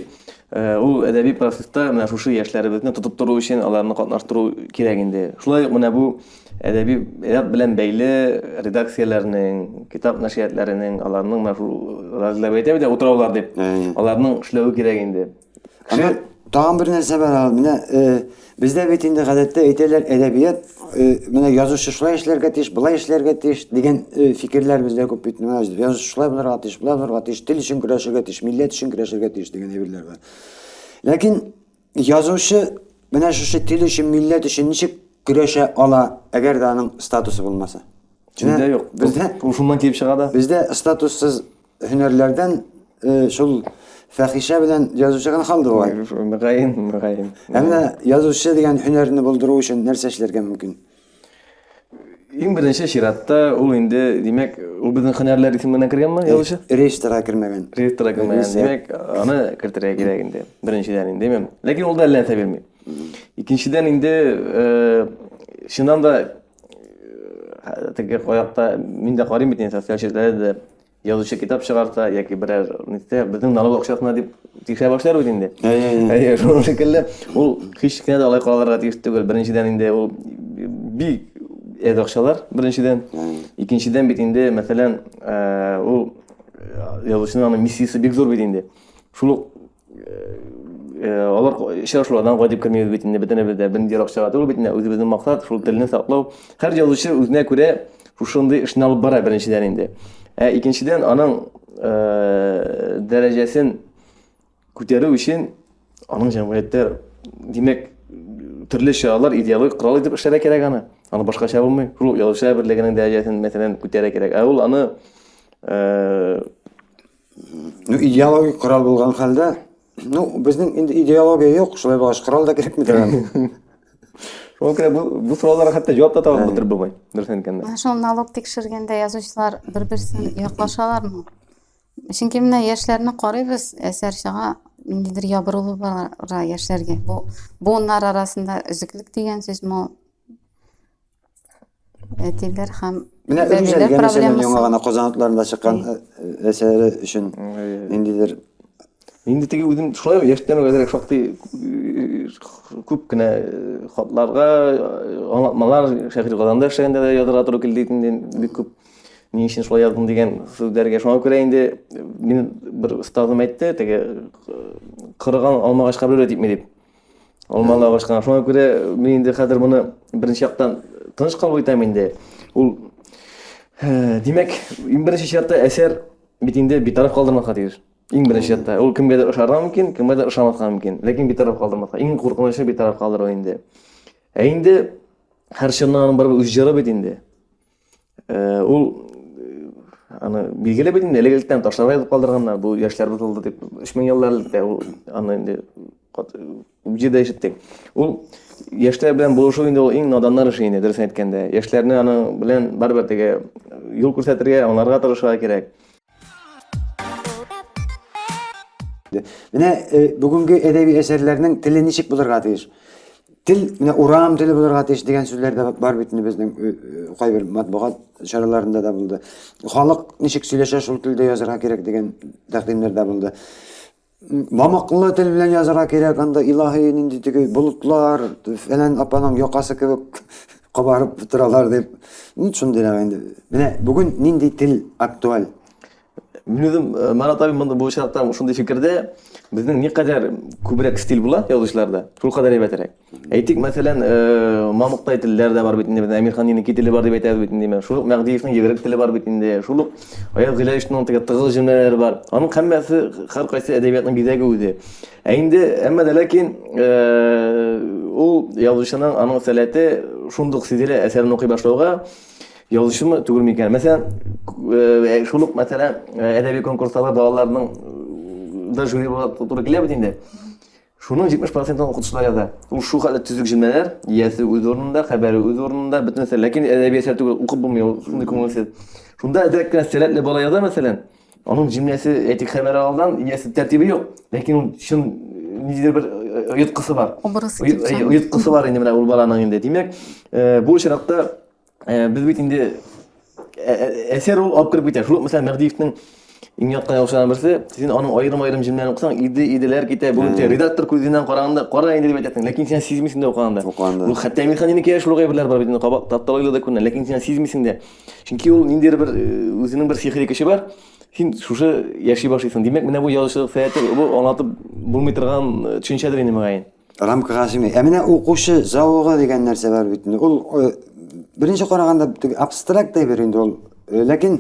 э, ул әдәби процесста менә шушы яшьләребезне тотып тору өчен аларны катнаштыру кирәк инде. Шулай ук менә бу әдәби ряд белән бәйле редакцияләрнең, китап нәшриятләренең, аларның менә шул разләп әйтәбез дә утраулар дип, Әйе. аларның эшләве кирәк инде. Әмма тагын бер нәрсә бар, менә э, бездә бит инде гадәттә әйтәләр, әдәбият э, менә язучы шулай эшләргә тиеш, былай эшләргә тиеш дигән э, фикерләр бездә күп бит. Менә язучы шулай булырга тиеш, болай булырга тиеш, тел өчен көрәшергә тиеш, милләт өчен көрәшергә тиеш дигән әйберләр бар. Ләкин язучы менә шушы тел өчен, милләт өчен ничек көрәшә ала, әгәр дә аның статусы булмаса? Бездә юк. Бездә шуннан килеп чыга да. Бездә статуссыз Һөнәрләрдән шул фәхишә белән язучы гына калды бугай. Мөгаен, мөгаен. Ә менә язучы дигән һөнәрне булдыру өчен нәрсә эшләргә мөмкин? Иң беренче чиратта ул инде, димәк, ул безнең һөнәрләр исеменә кергәнме, язучы? Реестрга кермәгән. Реестрга кермәгән. Димәк, аны кертергә кирәк инде. Беренчедән инде, димәм. Ләкин ул да әллә нәрсә бирми. Икенчедән инде, чыннан да теге аякта мин дә карыйм бит инде социаль челтәрдә дә Язучы китап чыгарта яки берәр нәрсә, безнең налог акчасына дип тикшерә башлар бит инде. Әйе, шуның шикелле, ул һич кенә дә алай каралырга тиеш түгел. Беренчедән инде ул бик әз акчалар, беренчедән. Икенчедән бит инде, мәсәлән, ул язучының аны миссиясе бик зур бит инде. Шул алар очрашулардан кайтып кермибез бит инде бөтенебез дә бер ерак чара түгел бит инде үзебезнең максат шул телне саклау һәр язучы үзенә күрә шушындый эшне алып бара беренчедән инде ә икенчедән аның ә, дәрәҗәсен күтәрү өчен аның җәмгыятьтә димәк төрле чаралар идеологик корал итеп эшләргә кирәк аны аны башкача булмый шул язучылар берлегенең дәрәҗәсен мәсәлән күтәрә кирәк ә ул аны ә, Ну, идеологик корал булган хәлдә, ну, безнең инде идеология юк, шулай булгач, корал да кирәкми дигән. Шуңа күрә бу, бу сорауларга хәтта җавап та табып бетер булмый, дөрес әйткәндә. Менә шул налог тикшергәндә язучылар бер-берсен яклашалармы? Чөнки менә яшьләрне карыйбыз, әсәр чыга, ниндидер ябырылу бара яшьләргә. Бу буыннар арасында өзеклек дигән сүзме ул? әтиләр һәм менә бәбиләр проблемасы яңа гына казан атларында чыккан әсәре өчен ниндидер инде теге үзем шулай яшьтән әзрәк шактый күп кенә хатларга аңлатмалар шәһри казанда эшләгәндә дә язырга туры килде инде бик күп ни өчен шулай яздым дигән сүзләргә шуңа күрә инде мин бер остазым әйтте теге кырыган алмагач кабере типми дип Алмалы агачка. Шуңа күрә мин инде хәзер моны беренче яктан тыныч кабул итәм инде. Ул э, димәк, иң беренче чиратта әсәр бит инде битараф калдырмаска тиеш. Иң беренче чиратта. Ул кемгәдер ошарга мөмкин, кемгәдер ошамаска мөмкин. Ләкин битараф калдырмаска. Иң куркынычы битараф калдыру инде. Ә инде һәр чынның аның барыбер үз җыры бит инде. Э, ул э, аны билгеле бит инде элегелектән ташларга язып калдырганнар бу яшьләр бозылды дип өч мең еллар электә ул аны инде җирдә ишеттек ул яшьләр белән булышу инде ул иң наданнар эше инде дөресен әйткәндә яшьләрне аның белән барыбер теге юл күрсәтергә аңларга тырышырга кирәк Менә э, бүгенге әдәби әсәрләрнең теле ничек булырга тиеш? Тел, менә урам теле булырга тиеш дигән сүзләр дә бар бит безнең э, э, кайбер матбугат чараларында да булды. Халык ничек сөйләшә, шул телдә язарга кирәк дигән тәкъдимнәр дә булды. Мамыклы тел белән язарга кирәк, анда илаһи нинди теге болытлар, фәлән апаның якасы кебек кабарып торалар дип. Н шундый рәвә инде. Менә бүген нинди тел актуаль? Мин үзем э, Марат абый монда бу очракта шундый фикердә, безнең никадәр күбрәк стиль була язучыларда, шул кадәр әйбәтрәк. Әйтик, мәсәлән, мамыктай телләр дә бар бит инде. Әмирхан инеки теле бар дип әйтәбез бит инде. Шул ук Мәгдиевнең йөгерек теле бар бит инде. Шул ук Аяз Гыйләҗевның теге тыгыз җөмләләре бар. Аның һәммәсе һәр кайсы әдәбиятның бизәге үзе. Ә инде әмма дә ләкин ул язучының аның сәләте шундук сизелә әсәрен укый башлауга, язучымы түгел микән? Мәсәлән, шул ук мәсәлән, әдәби конкурсларда балаларның да жюри буларак туры килә бит инде. Шуның 70 процентын укытучылар яза. Ул шулхәтле төзек җөмләләр, иясе үз урынында, хәбәре үз урынында, бөтен нәрсә. Ләкин әдәби әсәр түгел, укып булмый ул, шундый күңелсез. Шунда әзрәк кенә сәләтле бала яза, мәсәлән, аның җөмләсе, әйтик, хәбәре алдан, иясе, тәртибе юк, ләкин ул чын ниндидер бер оеткысы бар. Образ итеп чагылыш. Оеткысы бар инде менә ул баланың инде. Димәк, бу очракта Э, без бит инде э, э, әсәр ул алып кереп китә. Шул ук мәсәлән Мәгдиевнең иң яткан яхшыларының берсе, син аның аерым-аерым җимнәрен укысаң, иде иделәр китә. Бүген син редактор күзеннән караганда, кара инде дип әйтәсең, ләкин син сизмисең дә укыганда. Укыганда. Бу хәтта Мирханиныкия шул гайберләр бар бит инде кабак тапталыйлы да күренә, ләкин син сизмисең дә. Чөнки ул ниндидер бер үзенең бер сихри көче бар. Син шушы яши башлыйсың. Димәк, менә бу язучылык сәясәте бу аңлатып булмый торган төшенчәдер инде мөгаен. Рамкага сыймый. Ә менә укучы зәвыгы дигән нәрсә бар бит инде. Ул э, беренче караганда теге абстракт әйбер инде ул. Э, ләкин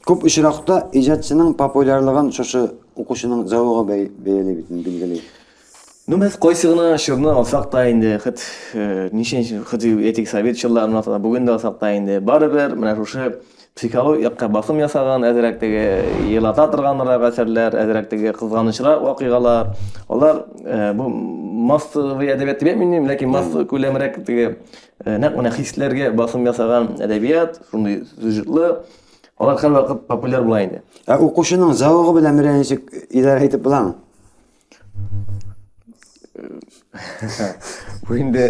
күп очракта иҗатчының популярлыгын шушы укучының зәвыгы бәй- бәяли бит инде, билгели. Ну, без кайсы гына чорны алсак та инде, хет э, ничәнче, хет әйтик, совет чорларын алсак та, бүген дә алсак та инде, барыбер менә шушы Психологик якка басым ясаган, әзрәк теге елата торганрак әсәрләр, әзрәк теге кызганычрак вакыйгалар. Алар бу массовый әдәбият дип әйтмим, ләкин массовый күләмрәк теге нәкъ менә хисләргә басым ясаган әдәбият, шундый сюжетлы. Алар һәрвакыт популяр була инде. Ә укучының зәвыгы белән менә ничек идарә итеп буламы? Бу инде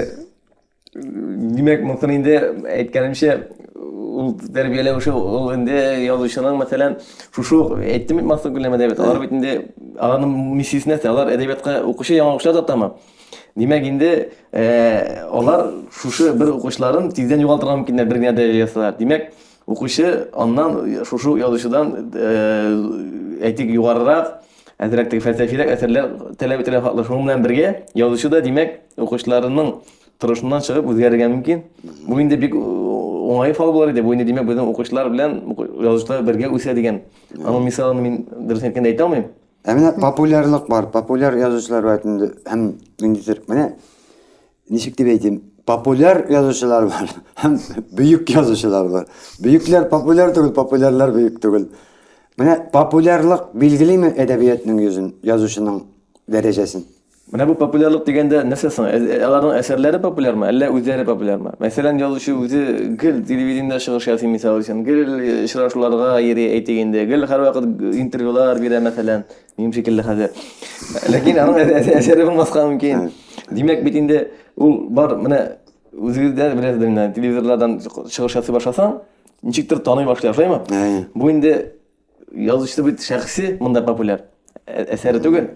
Димәк, монсын инде әйткәнемчә, ул тәрбияләү эше ул инде язучының, мәсәлән, шушы әйттем бит Максат Гөлнәм әдәбият. Алар бит инде аның миссиясе нәрсә? Алар әдәбиятка укучы яңа укучылар тартамы? Димәк, инде алар шушы бер укучыларын тиздән югалтырга мөмкиннәр, бер генә дә ясалар. Димәк, укучы аннан шушы язучыдан әйтик югарырак Әзрәк теге фәлсәфирәк әсәрләр таләп ителә хаклы. Шуның белән бергә язучы да, димәк, укучыларының торышыннан чыгып үзгәрергә мөмкин. Бу инде бик уңай фал булыр иде. Бу инде, димәк, безнең укучылар белән язучылар бергә үсә дигән. Аның мисалын мин дөрес әйткәндә әйтә алмыйм. Ә менә популярлык бар. Популяр язучылар бар инде һәм ниндидер. Менә ничек дип әйтим, популяр язучылар бар һәм бөек язучылар бар. Бөекләр популяр түгел, популярлар бөек түгел. Менә популярлык билгелиме әдәбиятның йөзен, язучының дәрәҗәсен? Менә бу популярлык дигәндә нәрсә соң? Ә- ә- Аларның әсәрләре популярмы, әллә үзләре популярмы? Мәсәлән, язучы үзе гел телевидениедә чыгыш ясый, мисал өчен, гел очрашуларга йөри, әйтик инде, гел һәрвакыт интервьюлар бирә, мәсәлән. Минем шикелле хәзер. Ләкин аның әсәре булмаска мөмкин. Димәк бит инде ул бар менә үзегездә беләсездер инде телевизорлардан чыгыш ясый башласаң, ничектер таный башлый, шулаймы? Бу инде язучы бит шәхси монда популяр әсәре түгел.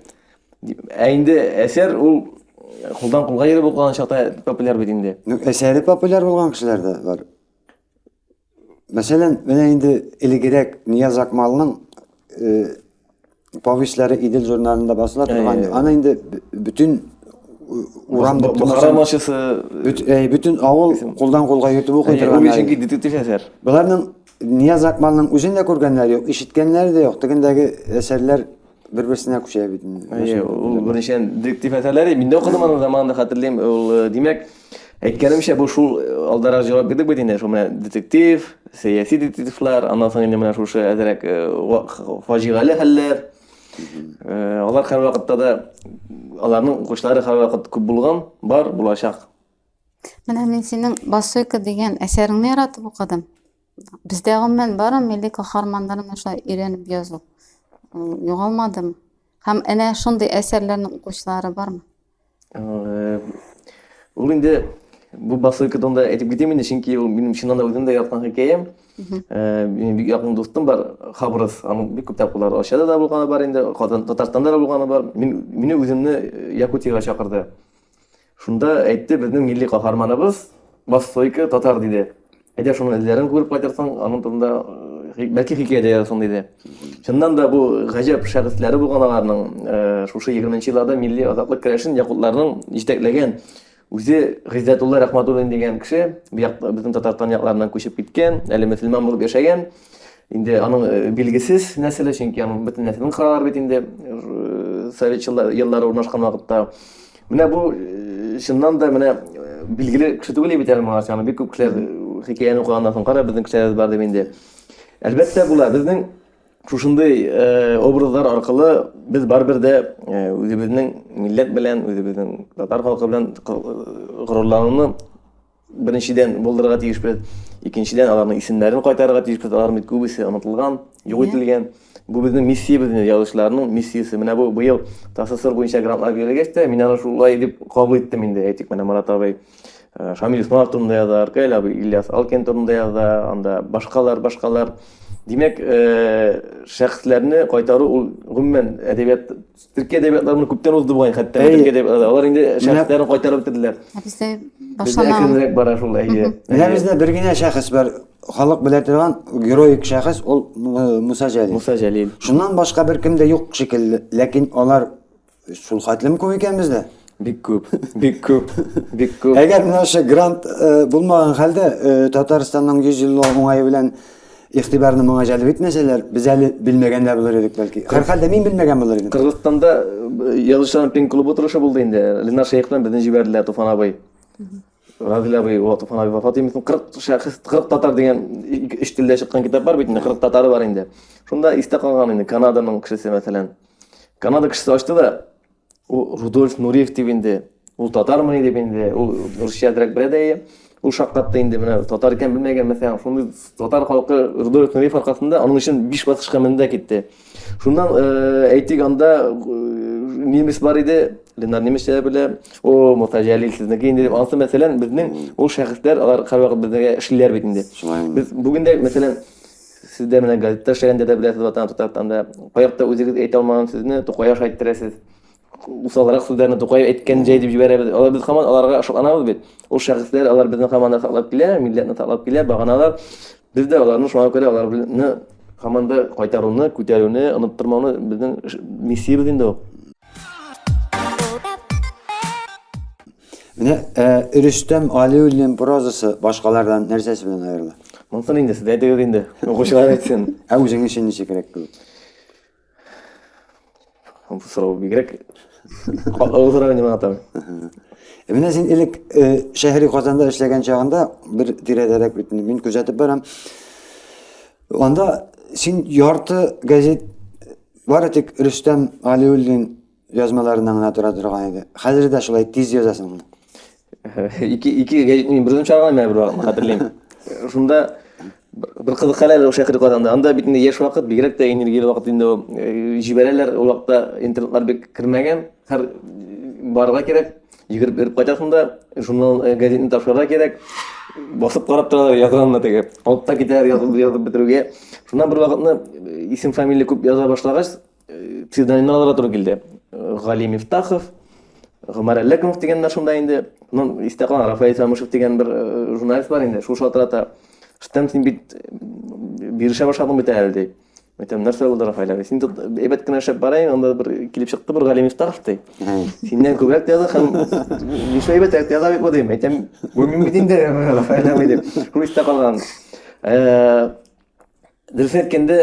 Ә инде әсәр ул кулдан кулга йөреп укыган чакта популяр бит инде. Ну, әсәре популяр булган кешеләр дә бар. Мәсәлән, менә инде элегерәк Нияз Акмалның повестьләре Идел журналында басыла торган. Аны инде бөтен урам дип Бохара ночысы бөтен авыл кулдан кулга йөртеп укый торган. Ул чөнки детектив әсәр. Боларның Нияз Акмалның үзен дә күргәннәре юк, ишеткәннәре дә юк. Тегендәге әсәрләр Бер-берсенә күчә бит инде. Әйе, ул беренчедән детектив әсәрләре, мин дә укыдым аны заманында хәтерлим. Ул, э, димәк, әйткәнемчә, бу шул э, алдарак җавап бирдек бит инде, шул менә детектив, сәяси детективлар, аннан соң инде менә шушы әзрәк э, ва- х- фаҗигале хәлләр. Э, Алар һәрвакытта да аларның укучылары һәрвакыт күп булган, бар, булачак. Менә мин синең Басойка дигән әсәреңне яратып укыдым. Бездә гомумән бары милли каһарманнарны шулай өйрәнеп язу. Югалмадым. Һәм әнә шундый әсәрләрнең укучылары бармы? Э, ул инде бу басылка тонда әйтеп китим инде, чөнки ул минем чыннан да үзем дә яраткан хикәям. Э, минем бик якын дустым бар, Хабрыз. Аның бик күп тапкырлар Ашада да булганы бар инде, Татарстанда да булганы бар. Мин мине үземне Якутиягә чакырды. Шунда әйтте, безнең милли каһарманыбыз Востойка татар диде. Әйдә шуның эзләрен күреп кайтырсың, аның турында э, бәлки хикәя дә язсын диде. Чыннан да бу гаҗәп шәхесләре булган аларның э, шушы 20 елларда милли азатлык көрәшен якутларның җитәкләгән үзе Гыйззәтулла Рәхмәтуллин дигән кеше, безнең Татарстан якларыннан күчеп киткән, әле мөселман булып яшәгән. Инде аның э, билгесез нәселе, чөнки аның бөтен нәселен кыралар бит инде э, совет еллары урнашкан вакытта. Менә бу э, чыннан да менә билгеле кеше түгел бит әле моңарча, аны бик күп кешеләр хикәяне укыганнан соң кара безнең кешеләребез бар дип инде. Әлбәттә була, безнең шушындый образлар аркылы без барыбер дә үзебезнең милләт белән, үзебезнең татар халкы белән горурлануны Беренчедән, булдырырга тиешбез. Икенчедән, аларның исемнәрен кайтарырга тиешбез. Алар бит күбесе онытылган, юк ителгән. Бу безнең миссиябез инде, язучыларның миссиясе. Менә бу быел ТАССР буенча грантлар бирелгәч тә, мин аны шулай дип кабул иттем инде. Әйтик, менә Марат абый Шамил Усманов турында яза, Аркәле абый Ильяс Алкин турында яза, анда башкалар, башкалар. Димәк, шәхесләрне кайтару ул гомумән әдәбият Төркия әдәбиятлары моны күптән узды бугай, хәтта Әйе. Төркия әдәбиятлары. Алар инде Менә- шәхесләрен кайтарып бетерделәр. Ә Бездә Бездә башламаган. әкренрәк бара шул, әйе. Менә Әйе. бездә бер генә шәхес бар, халык белә торган героик шәхес, ул э, Муса Җәлил. Муса Җәлил. Шуннан башка беркем дә юк шикелле, ләкин алар шул хәтлем күп икән бездә. Бик күп, бик күп, бик күп. Әгәр менә ошо грант э, булмаган хәлдә э, Татарстанның 100 еллыгы уңае белән игътибарны моңа җәлеп итмәсәләр, без әле белмәгән дә булыр идек, бәлки. Һәрхәлдә мин белмәгән булыр идем. Кыргызстанда э, язучыларның пен клубы утырышы булды инде. Ленар Шәехтан безне җибәрделәр Туфан абый. Разил абый, о, Туфан абый вафат имесен. 40 шәхес, 40 татар дигән ике- өч телдә чыккан китап бар бит инде, 40 татары бар инде. Шунда истә калган инде Канаданың кешесе мәсәлән. Канада кешесе ачты да, Ул Рудольф Нуриев дип инде, ул татармыни дип инде, ул русча дирәк белә дә ул шаккатты инде менә татар икән белмәгән мәсәлән шундый татар халкы рудольф нуриев аркасында аның өчен биш баскычка менде китте шуннан э, әйтик анда э, немец бар иде ленар немецчә дә белә о муса җәлил сезнеке инде дип анысы мәсәлән безнең ул шәхесләр алар һәрвакыт безгә эшлиләр бит инде без бүген дә мәсәлән Сез дә менә газетта эшләгәндә дә беләсез ватан Татарстанда. Каякта үзегез әйтә алмаган сүзне Тукаеш әйттерәсез. Усалрак сүзләрне Тукаев әйткән җәй дип җибәрәбез. Алар без хаман аларга шатланабыз бит. Ул шәхесләр алар безне хаман да саклап килә, милләтне саклап килә, баганалар. Без дә аларны шуңа күрә аларны хаман да кайтаруны, күтәрүне, оныттырмауны безнең миссиябез инде ул. Менә Рөстәм Алиуллин прозасы башкалардан нәрсәсе белән аерыла? Монсын инде сез әйтегез инде, укучылар әйтсен. Ә үзең өчен ничегрәк кебек? Бу сорау бигрәк катлаулы сорау инде миңа тагын. Менә син элек шәһри Казанда эшләгән чагында бер тирәдәрәк бит мин күзәтеп барам. Анда син ярты газет бары тик Рөстәм Алиуллин Язмаларына гына тора торган иде. Хәзер дә шулай тиз язасың. Ике ике гәҗитне бердән чыгарган менә бер вакыт хәтерлим. Шунда бер кызык хәлләр ошый хәрәкәтләрдә. Анда бит инде яшь вакыт, бигрәк тә энергияле вакыт инде ул. Э, җибәрәләр, ул вакытта интернетлар бик кермәгән. Һәр барырга кирәк. Йөгереп йөреп кайтасың да, журнал э, газетны тапшырырга кирәк. Басып карап торалар язганны теге. Алып та китәләр язып язып бетерүгә. Шуннан бер вакытны э, исем фамилия күп яза башлагач, псевдонимнарга туры килде. Гали Мифтахов, Гомар Әлләкмов дигәннәр шунда инде. Ну, истә калган Рафаэль Самышев дигән бер э, журналист бар инде, шул шалтырата. Штем син бит э, бирешә башладың бит әле ди. Әйтәм, нәрсә булды Рафаэль абый? Син тут әйбәт кенә эшләп барайын, анда бер килеп чыкты бер Гали Мифтахов ди. Синнән күбрәк тә яза һәм нишләп әйбәт тә яза бит бу дим. Әйтәм, бу мин бит инде Рафаэль абый дип. Шул истә калган. Э, дөрес әйткәндә,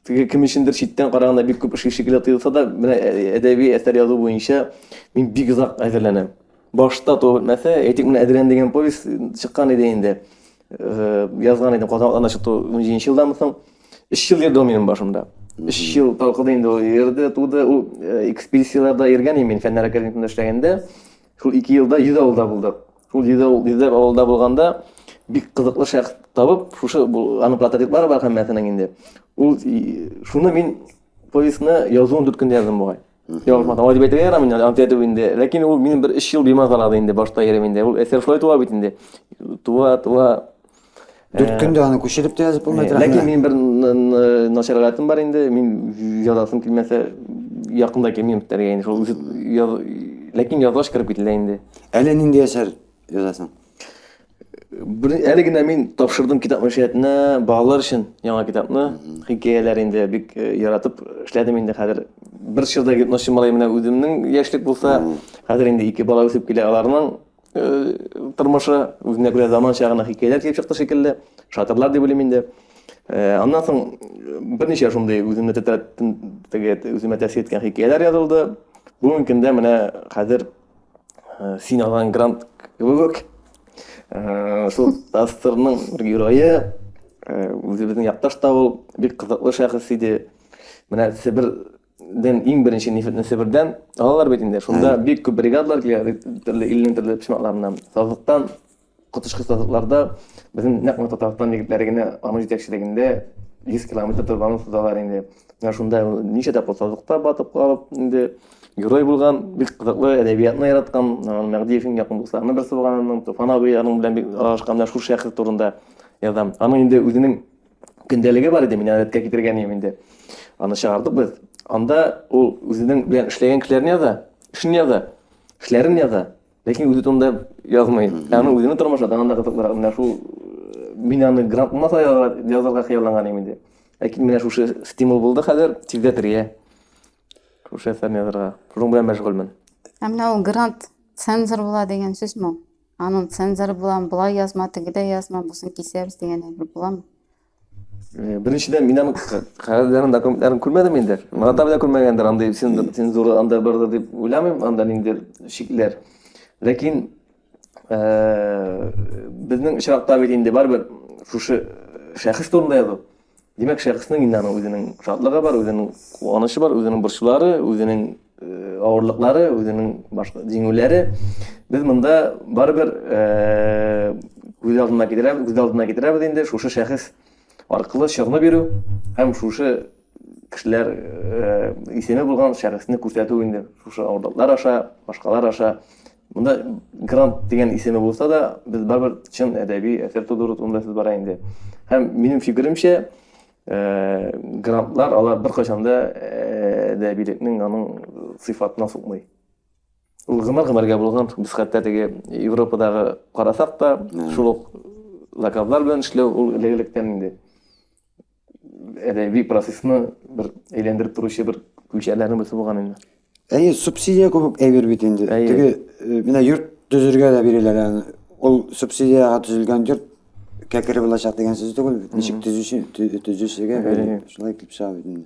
теге кем өчендер читтән караганда бик күп эш шикелле тоелса да, менә әдәби әсәр язу буенча мин бик озак әзерләнәм. Башта то мәсә, әйтик, менә Әдрән дигән повесть чыккан иде инде. Э, язган идем Казан атларына чыкты 17 елдан соң. 3 ел йөрде минем башымда. 3 ел талкыды инде ул йөрде, туды. Ул э, экспедицияләрдә йөргән мин фәннәр академиясендә эшләгәндә. Шул ике елда йөз авылда булдык. Шул йөзләп авылда булганда бик кызыклы шәхес табып, шушы аның прототиплары бар һәммәсенең инде. Ул шуны мин повестьны язуын дүрт көндә яздым бугай. Ялгышмасам, алай дип әйтергә ярамый, ант итү инде. Ләкин ул минем бер өч ел бимазалады инде, башта йөрим инде. Ул әсәр шулай туа бит инде. Туа, туа. Дүрт э, көндә аны күчереп тә язып булмый. Ләкин мин бер начарлатым бар инде. Мин язасым килмәсә, якында кемем битәргә инде. Шул яз ләкин язлаш кереп кителә инде. Әле нинди әсәр язасың? Әле генә мин тапшырдым китап мәшәтенә балалар өчен яңа китапны. Хикәяләр инде бик э, яратып эшләдем инде хәзер. Бер чырда гипнозчы малай менә үземнең яшьлек булса, хәзер инде ике бала үсеп килә аларның тормышы, үзенә күрә заманча гына хикәяләр килеп чыкты шикелле, шатырлар дип уйлыйм инде. Э, аннан соң берничә шундый үземне тетрәтеп, үземә тәэсир иткән хикәяләр язылды. Бүгенге көндә менә хәзер э, син алган грант кебек э, шул Тастерның бер герое, үзебезнең якташ та ул, бик кызыклы шәхес иде. Менә Себер ден иң беренче нефтьне Себердән алалар бит инде. Шунда бик күп бригадалар килә, төрле илнең төрле почмакларыннан. Сазлыктан, коточкыч сазлыкларда безнең нәкъ менә Татарстан егетләре генә аның җитәкчелегендә 100 километр торбаны сузалар инде. Менә шунда ничә тапкыр сазлыкта батып калып, инде герой булган, бик кызыклы әдәбиятны яраткан, Мәгдиевнең якын дусларының берсе булган аның, Туфан абый аның белән бик аралашкан, менә шул шәхес турында язам. Аның инде үзенең көндәлеге бар иде, мин рәткә китергән идем инде. Аны чыгардык без. Анда ул үзенең белән эшләгән кешеләрен яза, эшен яза, эшләрен яза, ләкин үзе турында язмый. Аны үзенең тормышы тагын да кызыклырак. Менә шул э, мин аны грант булмаса язарга хыялланган идем инде. Ләкин менә шушы стимул булды хәзер тиздә трия. Шушы әсәрне язарга. Шуның белән мәшгульмен. Ә менә ул грант цензор була дигән сүзме? Аның цензоры буламы, болай язма, тегедә язма, бусын кисәбез дигән әйбер буламы? Э, Беренчедән, мин аның ка- кәгазьләрен, документларын күрмәдем инде. Марат абый да күрмәгәндер, андый цен- цензура анда бардыр дип уйламыйм, анда ниндидер шикләр. Ләкин э, безнең очракта бит инде барыбер шушы шәхес турында язу. Димәк, шәхеснең инде аның үзенең шатлыгы бар, үзенең куанычы бар, үзенең борчулары, үзенең авырлыклары, үзенең башка җиңүләре. Без монда барыбер күз алдына китерәбез, күз алдына китерәбез инде шушы шәхес аркылы чыгны бирү һәм шушы кешеләр исеме булган шәхесне күрсәтү инде шушы авырлыклар аша, башкалар аша Монда грант дигән исеме булса да, без барыбер чын әдәби әсәр тудыру турында сүз бара инде. Һәм минем фикеремчә, э, грантлар алар беркайчан да э, әдәбилекнең аның сыйфатына сукмый. Ул гомер-гомергә булган, без хәтта теге Европадагы карасак та, шул ук заказлар белән эшләү ул элек-электән инде. әдәби процессны бер әйләндереп торучы бер күлчәләрнең берсе булган инде. Әйе, субсидия күп әйбер бит инде. Теге э, менә йорт төзергә дә бирәләр аны. Ул субсидиягә төзелгән йорт кәкере булачак дигән сүз түгел бит. Ничек төзүче төзүчегә шулай итеп чыга бит инде.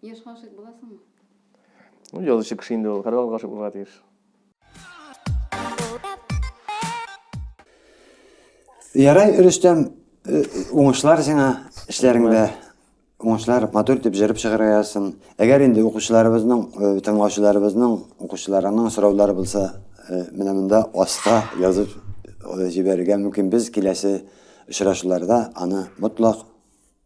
Яшь гашыйк буласыңмы? Ну, язучы кеше инде ул, һәрвакыт гашыйк булырга тиеш. Ярай, Рөстәм, э, уңышлар сиңа эшләреңдә. Уңышлар, матур итеп җырып чыгарга язсын. Әгәр инде укучыларыбызның, э, тыңлаучыларыбызның, укучыларының сораулары булса, э, менә монда аска язып җибәрергә мөмкин. Без киләсе очрашуларда аны мотлак